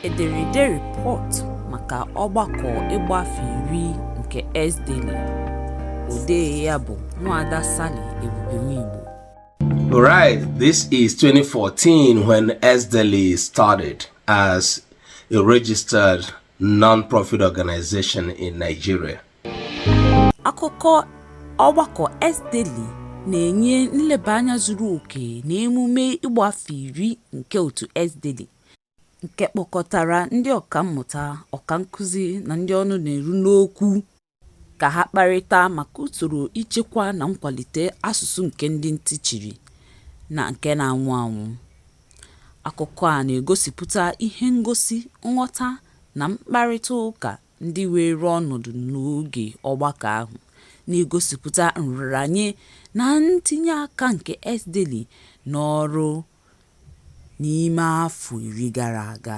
ederede rịpọt maka ọgbakọ ịgba afọ iri nke S-DELI odee ya bụ Nwada Sally Ebube Nwigbo Right, this is 2014 when S-DELI started as a registered non-profit organization in Nigeria. Akụkọ ọgbakọ S-DELI na-enye nleba anya zuru oke na emume ịgba afọ iri nke otu S-DELI, nke kpọkọtara ndị ọkammụta, ọkankụzi na ndị ọnụ na-eru n'okwu. ka ha kparịta maka usoro ichekwa na nkwalite asụsụ nke ndị ntị chiri na nke na-anwụ anwụ. Akụkọ a na-egosipụta ihe ngosi nghọta na mkparịta ụka ndị weere ọnọdụ n'oge ọgbakọ ahụ, na-egosipụta nraranye na ntinye aka nke S-DELI n'ọrụ n'ime afọ iri gara aga.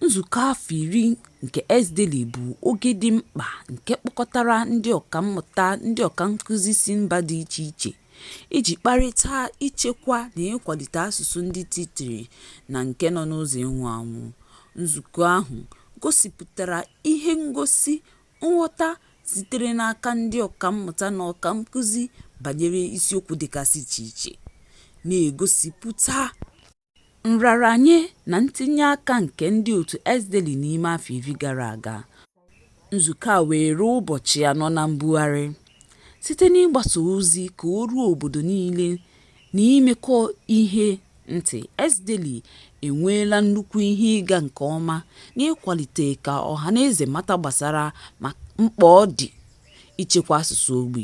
Nzukọ afọ iri nke S-DELI bụ oge dị mkpa nke kpọkọtara ndị ọkammụta, ndị ọkankụzi si mba dị iche iche iji kparịta ichekwa na ịkwalite asụsụ ndị ntị chiri na nke nọ n'ụzọ ịnwụ anwụ. Nzukọ ahụ gosipụtara ihe ngosi nghọta sitere n'aka ndị ọkammụta na ọkankụzi banyere isiokwu dịgasị iche iche, na-egosipụta, Nraranye na ntinye aka nke ndị otu S-DELI n'ime afọ iri gara aga, nzukọ a weere ụbọchị anọ na mbugharị, site n'ịgbasa ozi ka o ruo obodo niile na imekọ ihe ntị, S-DELI enweela nnukwu ihe ịga nke ọma n'ịkwalite ka ọhanaeze mata gbasara mkpa ọ dị ichekwa asụsụ ogbi.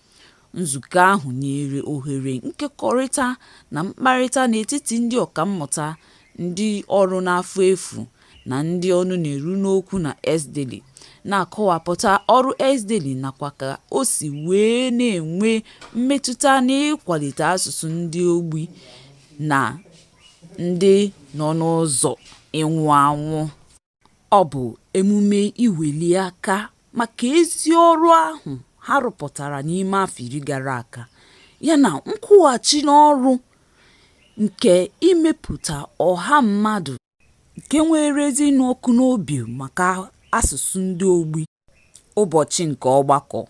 Nzukọ ahụ nyere ohere nkekọrịta na mkparịta n'etiti ndị ọkammụta, ndị ọrụ n'afọ efu, na ndị ọnụ na-eru n'okwu na S-DELI, na-akọwapụta ọrụ S-DELI nakwa ka o si wee na-enwe mmetụta n'ịkwalite asụsụ ndị ogbi na ndị nọ n'ụzọ ịnwụ anwụ. Ọ bụ emume iweli aka maka ezi ọrụ ahụ ha rụpụtara n'ime afọ iri gara aga yana nkwụghachi n'ọrụ nke imepụta ọha mmadụ nke nwere ezi ịnụ ọkụ n'obi maka asụsụ ndị ogbi. Ụbọchị nke Ọgbakọ,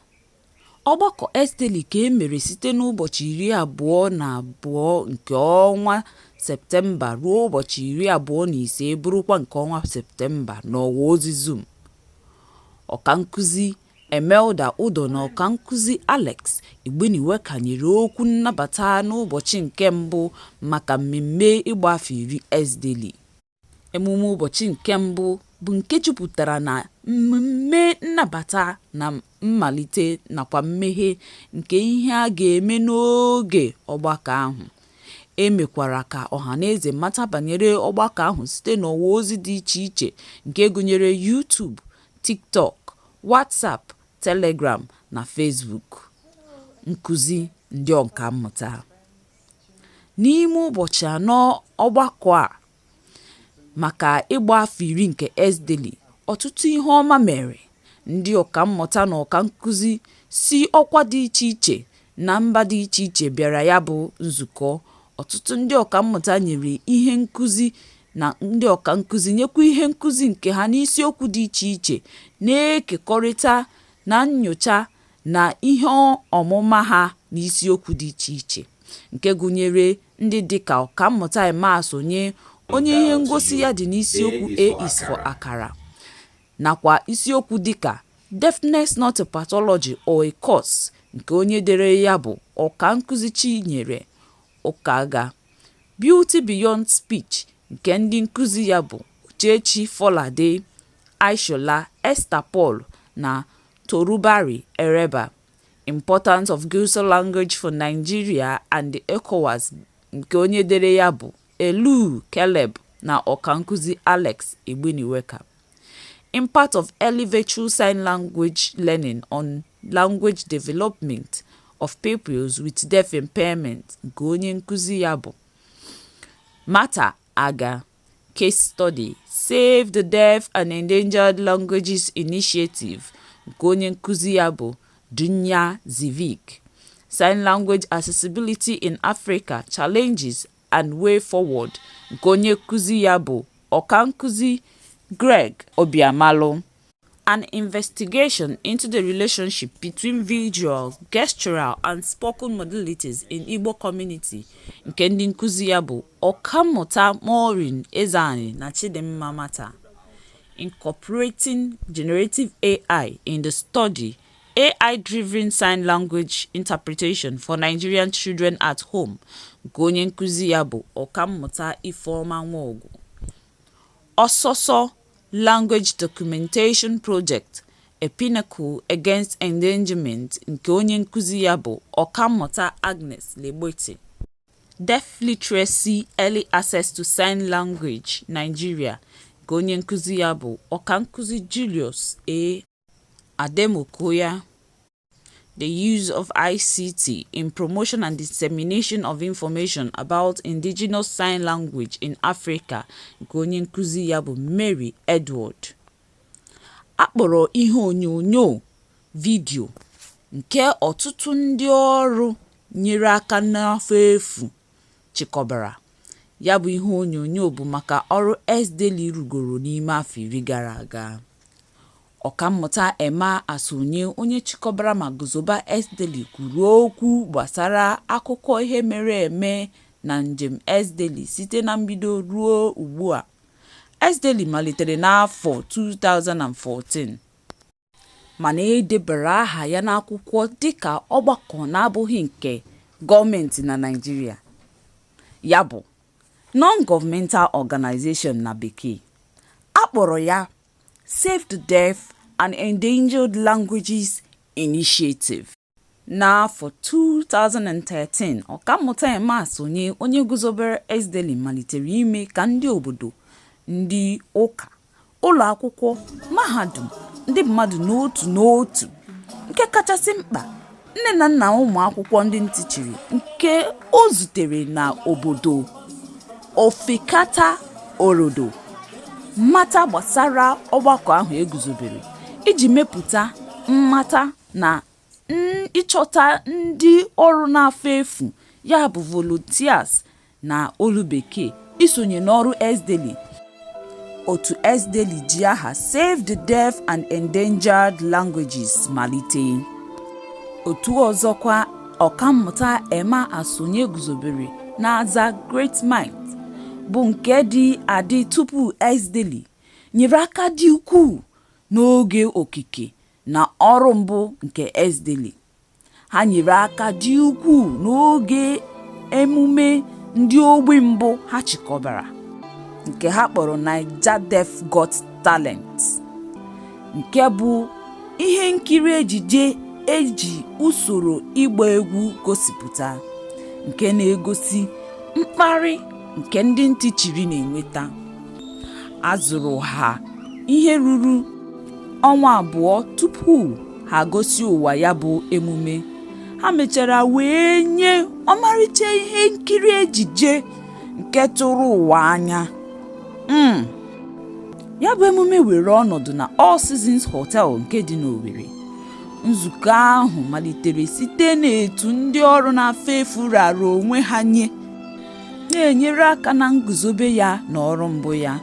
Ọgbakọ S-DELI ka e mere site n'ụbọchị 22 nke ọnwa Septemba ruo ụbọchị 25 bụrụkwa nke ọnwa Septemba n'ọwa ozi Zoom. Ọkankụzi Imelda Udoh na Ọkankụzi Alex Igbineweka nyere okwu nnabata n'ụbọchị nke mbụ maka mmemme ịgba afọ iri S-DELI. Emume ụbọchị nke mbụ bụ nke jupụtara na mmemme nnabata na mmalite nakwa mmeghe nke ihe a ga-eme n'oge ọgbakọ ahụ. E mekwara ka ọhanaeze mata banyere ọgbakọ ahụ site n'ọwa ozi dị iche iche nke gụnyere YouTube, TikTok, WhatsApp, Telegram na Facebook. Nkuzi ndị ọkammụta. N'ime ụbọchị anọ ọgbakọ a maka ịgba afọ iri nke S-DELI, ọtụtụ ihe ọma mere, ndị ọkammụta na ọkankụzi si ọkwa dị iche iche na mba dị iche iche bịara ya bụ nzukọ, ọtụtụ ndị ọkammụta nyere ihe nkụzi na ndị ọkankụzi nyekwa ihe nkụzi nke ha n'isiokwu dị iche iche, na-ekekọrịta na nnyocha na ihe ọmụma ha n'isiokwu dị iche iche, nke gụnyere ndị dị ka Ọkammụta Emma Asonye, onye ihe ngosi ya dị n'isiokwu A is for Akara, nakwa isiokwu dị ka Deafness Not a Pathology or a Curse nke onye dere ya bụ Ọkankụzi Chinyere Ukaga, Beauty Beyond Speech nke ndị nkụzi ya bụ Uchechi Folade, Ishola, Esther Paul na Torubari Ereba, Importance of Guosa language for Nigeria and the ECOWAS nke onye dere ya bụ Elu Caleb na ọkankụzi Alex Igbineweka. Impact of early virtual sign language learning on language development of pupils with deaf impairment nke onye nkụzi ya bụ Martha Agha. Case study, Save the Deaf and Endangered Languages Initiative nke onye nkuzi ya bụ Dunja Zivic, Sign Language Accessibility in Africa, Challenges and Way Forward nke onye nkuzi ya bụ ọkankuzi Greg Obiamalu. An investigation into the relationship between visual, gestural and spoken modalities in Igbo community nke ndị nkuzi ya bụ Ọkammụta Maureen Ezeani na Chidimma Mata. Incorporating Generative AI in the Study, AI-Driven Sign Language Interpretation for Nigerian Children at Home nke onye nkuzi ya bụ Ọkammụta Ifeoma Nwogu. Ọsọsọ Language Documentation Project, A Pinnacle Against Endangerment nke onye nkuzi ya bụ Ọkammụta Agnes Legbete. Deaf Literacy, Early Access to Sign Language, Nigeria, nke onye nkuzi ya bụ Ọkankụzi Julius A. Ademokoya. The use of ICT in promotion and dissemination of information about Indigenous Sign Language in Africa nke onye nkuzi ya bụ Mary Edward. A kpọrọ ihe onyonyo vidiyo nke ọtụtụ ndị ọrụ nyere aka n'afọ efu chịkọbara. Ya bụ ihe onyonyo bụ maka ọrụ S-DELI rụgoro n'ime afọ iri gara aga. Ọkammụta Emma Asonye, onye chịkọbara ma guzoba S-DELI kwuru okwu gbasara akụkọ ihe mere eme na njem S-DELI site na mbido ruo ugbua. S-DELI malitere n'afọ 2014. Mana e debara aha ya n'akwụkwọ dịka ọgbakọ na-abụghị nke gọọmentị na Naịjirịa, ya bụ, non-governmental organization na Bekee. A kpọrọ ya Save the Deaf and Endangered Languages Initiative. N'afọ 2013, Ọkammụta Emma Asonye, onye guzobere S-DELI, malitere ime ka ndị obodo, ndị ụka, ụlọakwụkwọ, mahadum, ndị mmadụ n'otu n'otu, nke kachasị mkpa, Nne na nna ụmụakwụkwọ ndị ntị chiri nke o zutere n'obodo Ofekata Orodo mata gbasara ọgbakọ ahụ e guzobere iji mepụta mmata na ịchọta ndị ọrụ n'afọ efu, ya bụ volunteers, Na olu Bekee, isonye n'ọrụ S-DELI. Otu S-DELI ji aha Save the Deaf and Endangered Languages malite. Otu ọzọkwa Ọkammụta Emma Asonye guzobere na-aza Great Minds, bụ nke dị adị tupu S-DELI, nyere aka dị ukwuu n'oge okike na ọrụ mbụ nke S-DELI. Ha nyere aka dị ukwuu n'oge emume ndị ogbi mbụ ha chịkọbara nke ha kpọrọ Naija Deaf Got Talent nke bụ ihe nkiri ejije e ji usoro ịgba egwu gosipụta nke na-egosi mkparị nke ndị ntị chiri na-enweta. A zụrụ ha ihe ruru ọnwa abụọ tupu ha gosi ụwa ya bụ emume ha mechara wee nye ọmarịcha ihe nkiri ejije nke tụrụ ụwa anya hmm. ya bụ emume were ọnọdụ na All Seasons Hotel nke dị n'Owerri nzukọ ahụ malitere site n'etu ndị ọrụ n'afọ efu rara onwe ha nye na-enyere aka na nguzobe ya na ọrụ mbụ ya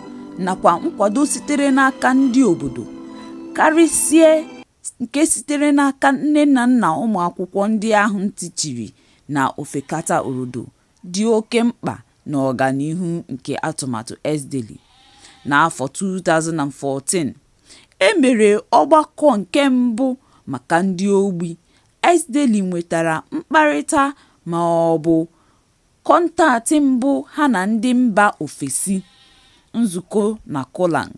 nakwa nkwado sitere n'aka ndị obodo karịsịa nke sitere n'aka nne na nna ụmụakwụkwọ ndị ahụ ntị chiri na Ofekata Orodo dị oke mkpa n'ọganihu nke atụmatụ S-DELI. N'afọ 2014, e mere ọgbakọ nke mbụ maka ndị ogbi, S-DELI nwetara mkparịta ma ọ bụ kọntaktị mbụ ha na ndị mba ofesi, nzukọ na CoLang.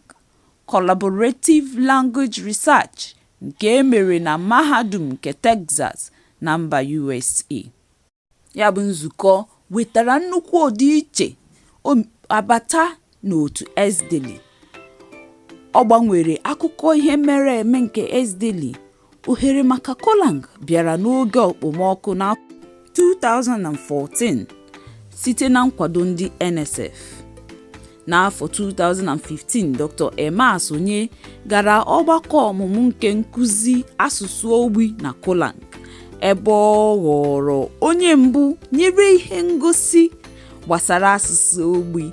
Collaborative Language Research nke e mere na Mahadum nke Texas na mba USA. Ya bụ nzukọ wetara nnukwu ọdịiche abata n'otu S-DELI. Ọ gbanwere akụkọ ihe mere eme nke S-DELI. Ohere maka CoLang bịara n'oge okpomọkụ n'afọ 2014 site na nkwado ndị NSF. N'afọ 2015, Dr. Emma Asonye gara ọgbakọ ọmụmụ nke nkụzi asụsụ ogbi na CoLang, ebe ọ ghọrọ onye mbụ nyere ihe ngosi gbasara asụsụ ogbi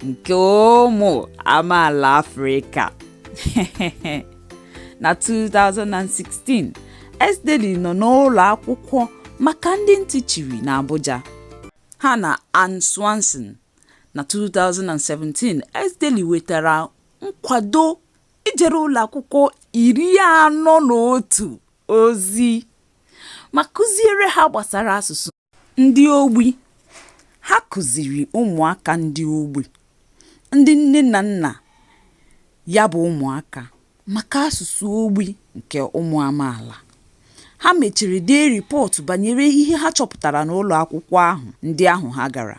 nke ụmụ amaala Afrịka. na 2016 S-DELI nọ n'ụlọ akwụkwọ maka ndị ntị chiri n'Abuja ha na Ann Swanson na 2017 S-DELI wetara nkwado ijere ụlọ akwụkwọ iri anọ na otu ozi ma kụziere ha gbasara asụsụ. Ndị ogbi, Ha kụziri ụmụaka ndị ogbi, ndị nne na nna ya bụ ụmụaka, maka asụsụ ogbi nke ụmụ amaala. Ha mechara dee rịpọtụ banyere ihe ha chọpụtara n'ụlọ akwụkwọ ahụ ndị ahụ ha gara.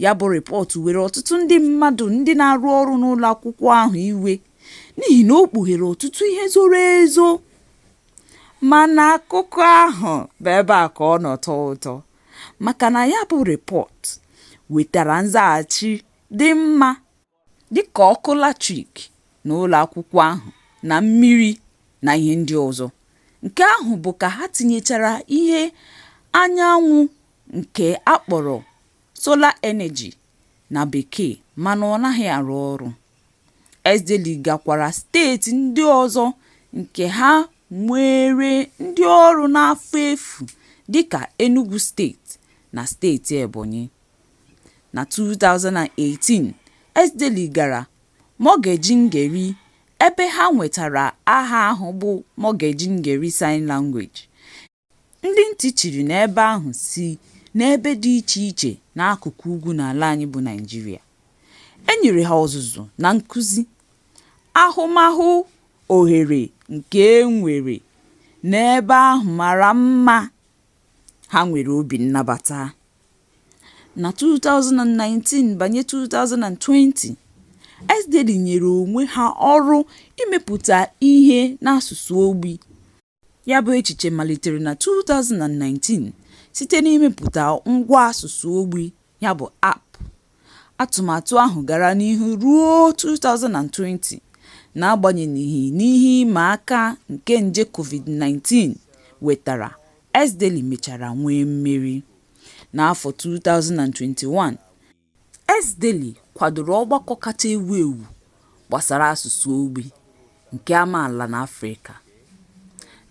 Ya bụ rịpọtụ were ọtụtụ ndị mmadụ ndị na-arụ ọrụ n'ụlọ akwụkwọ ahụ iwe n'ihi na o kpughere ọtụtụ ihe zoro ezo. Mana akụkọ ahụ bụ ebe a ka ọ nọ tọọ ụtọ maka na ya bụ rịpọtụ wetara nzaghachi dị mma dịka ọkụ latrik n'ụlọakwụkwọ ahụ na mmiri na ihe ndị ọzọ, nke ahụ bụ ka ha tinyechara ihe anyanwụ nke a kpọrọ solar energy na bekee mana ọ naghị arụ ọrụ. S-DELI gakwara steeti ndị ọzọ nke ha nwere ndị ọrụ n'afọ efu dịka Enugwu steeti na steeti Ebonyi. Na 2018, S-DELI gara Magajin Gari ebe ha nwetara aha ahụ bụ Magajin Gari Sign Language. Ndị ntị chiri n'ebe ahụ si n'ebe dị iche iche n'akụkụ ugwu n'ala anyị bụ Naịjirịa. E nyere ha ọzụzụ na nkụzi, ahụmahụ ohere nke e nwere n'ebe ahụ mara mma, ha nwere obi nnabata. Na 2019 banye 2020, S-DELI nyere onwe ha ọrụ imepụta ihe n'asụsụ ogbi. Ya bụ echiche malitere na 2019 site n'imepụta ngwa asụsụ ogbi, ya bụ app. Atụmatụ ahụ gara n'ihu ruo 2020 n'agbanyeghị n'ihe ịma aka nke nje COVID-19 wetara, S-DELI mechara nwee mmeri. N'afọ 2021, S-DELI kwadoro ọgbakọ kacha ewu ewu gbasara asụsụ ogbi nke amaala n'Afrịka.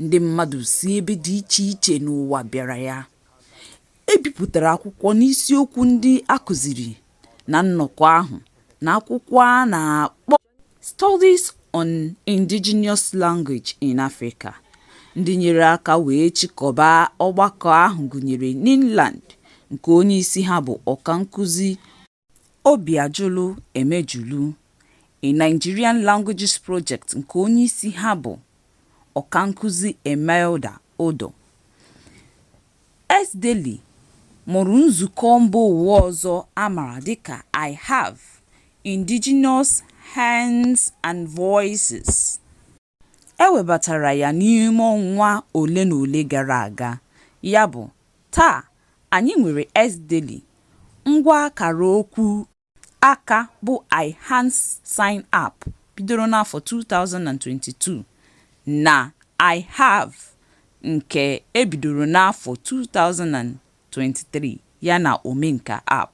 Ndị mmadụ si ebe dị iche iche n'ụwa bịara ya. E bipụtara akwụkwọ n'isiokwu ndị a kụziri na nnọkọ ahụ na akwụkwọ a na-akpọ. Studies on Indigenous Language in Africa, ndị nyere aka wee chịkọba ọgbakọ ahụ gụnyere NINLAN, nke onyeisi ha bụ Ọkankụzi Obiajulu Emejulu, na Nigerian Languages Project nke onyeisi ha bụ Ọkankụzi Imelda Udoh. S-DELI mụrụ nzukọ mbaụwa ọzọ a mara dịka IHAV, Indigenous Hands and Voices. E webatara ya n'ime ọnwa ole na ole gara aga, ya bụ, taa, anyị nwere S-DELI, ngwa akara okwu aka bụ iHands Sign App bidoro n'afọ 2022 na IHAV nke e bidoro n'afọ 2023 yana Omenka App,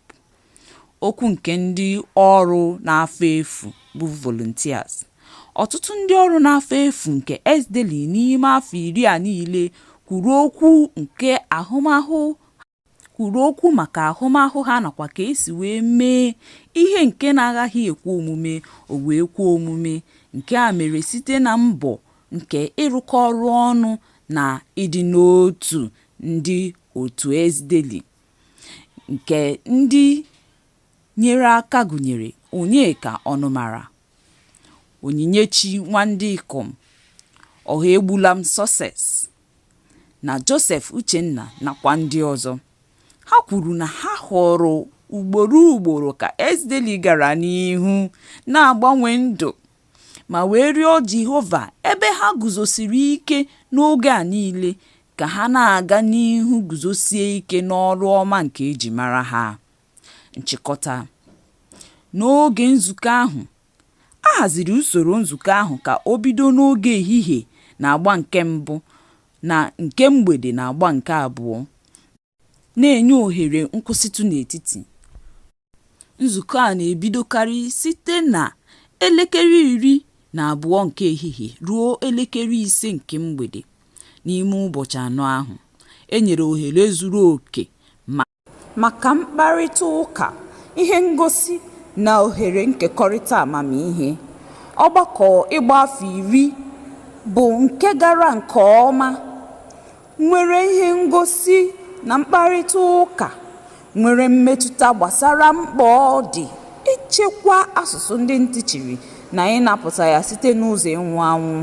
okwu nke ndị ọrụ n'afọ efu bụ volunteers. Ọtụtụ ndị ọrụ n'afọ efu nke S-DELI n'ime afọ iri a niile kwuru okwu nke ahụmahụ ha. kwuru okwu maka ahụmahụ ha nakwa ka esi wee mee ihe nke na-agaghị ekwe omume o wee kwe omume, nke a mere site na mbọ nke ịrụkọ ọrụ ọnụ na ịdị n'otu ndị otu S-DELI, nke ndị nyere aka gụnyere Onyeka Ọnụmara. Onyinyechi Nwandikom, Ọhaegbulam Success na Joseph Uchenna nakwa ndị ọzọ. Ha kwuru na ha hụrụ ugboro ugboro ka S-DELI gara n'ihu na-agbanwe ndụ ma wee rịọ Jehova ebe ha guzosiri ike n'oge a niile ka ha na-aga n'ihu guzosie ike n'ọrụ ọma nke e ji mara ha. Nchịkọta N'oge nzukọ ahụ, a haziri usoro nzukọ ahụ ka o bido n'oge ehihie n'agba nke mbụ na nke mgbede n'agba nke abụọ, na-enye ohere nkwụsịtụ n'etiti. Nzukọ a na-ebidokarị site na 12:00 nke ehihie ruo 5:00 nke mgbede. N'ime ụbọchị anọ ahụ, e nyere ohere zuru oke maka maka mkparịta ụka, ihe ngosi, na ohere nkekọrịta amamihe. Ọgbakọ ịgba afọ iri bụ nke gara nke ọma, nwere ihe ngosi na mkparịta ụka nwere mmetụta gbasara mkpa ọ dị ichekwa asụsụ ndị ntị chiri na ịnapụta ya site n'ụzọ ịnwụ anwụ.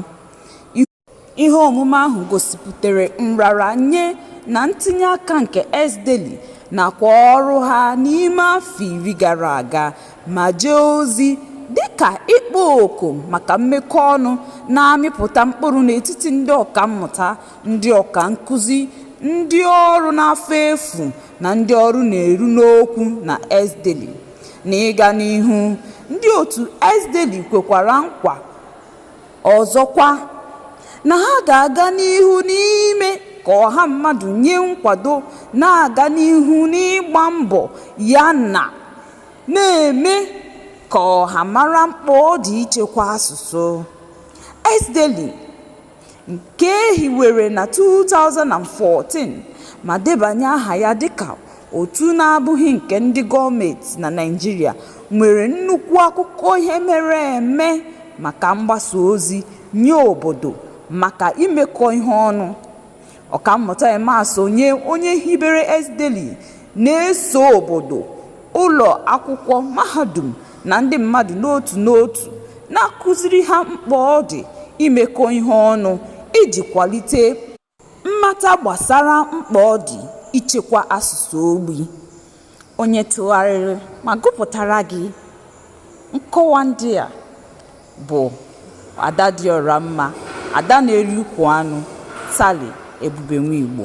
Ihe omume ahụ gosipụtara nraranye na ntinye aka nke S-DELI nakwa ọrụ ha n'ime afọ iri gara aga ma jee ozi dị ka ịkpọ oku maka mmekọ ọnụ na-amịpụta mkpụrụ n'etiti ndị ọkammụta, ndị ọka nkuzi, ndị ọrụ n'afọ efu na ndị ọrụ na-eru n'okwu na S-DELI. N'ịga n'ihu, ndị otu S-DELI kwekwara nkwa. Ọzọkwa, na ha ga-aga n'ihu n'ime ka ọha mmadụ nye nkwado na-aga n'ihu n'ịgba mbọ ya na na-eme ka ọha mara mkpa ọ dị ichekwa asụsụ. S-DELI, nke e hiwere na 2014 ma debanye aha ya dịka Otu na-abụghị nke ndị gọọmenti na Naịjirịa nwere nnukwu akụkọ ihe mere eme maka mgbasa ozi nye obodo maka imekọ ihe ọnụ. Ọkammụta Emma Asonye, onye hibere S-DELI, na-eso obodo, ụlọ akwụkwọ, mahadum na ndị mmadụ n'otu n'otu, na-akụziri ha mkpa ọ dị imekọ ihe ọnụ iji kwalite Mmata gbasara mkpa ọ dị ichekwa asụsụ ogbi. Onye tụgharịrị ma gụpụtara gị nkọwa ndị a bụ Ada dị ọra mma, Ada na-eri ukwu anụ, Sally Ebube nwa Igbo.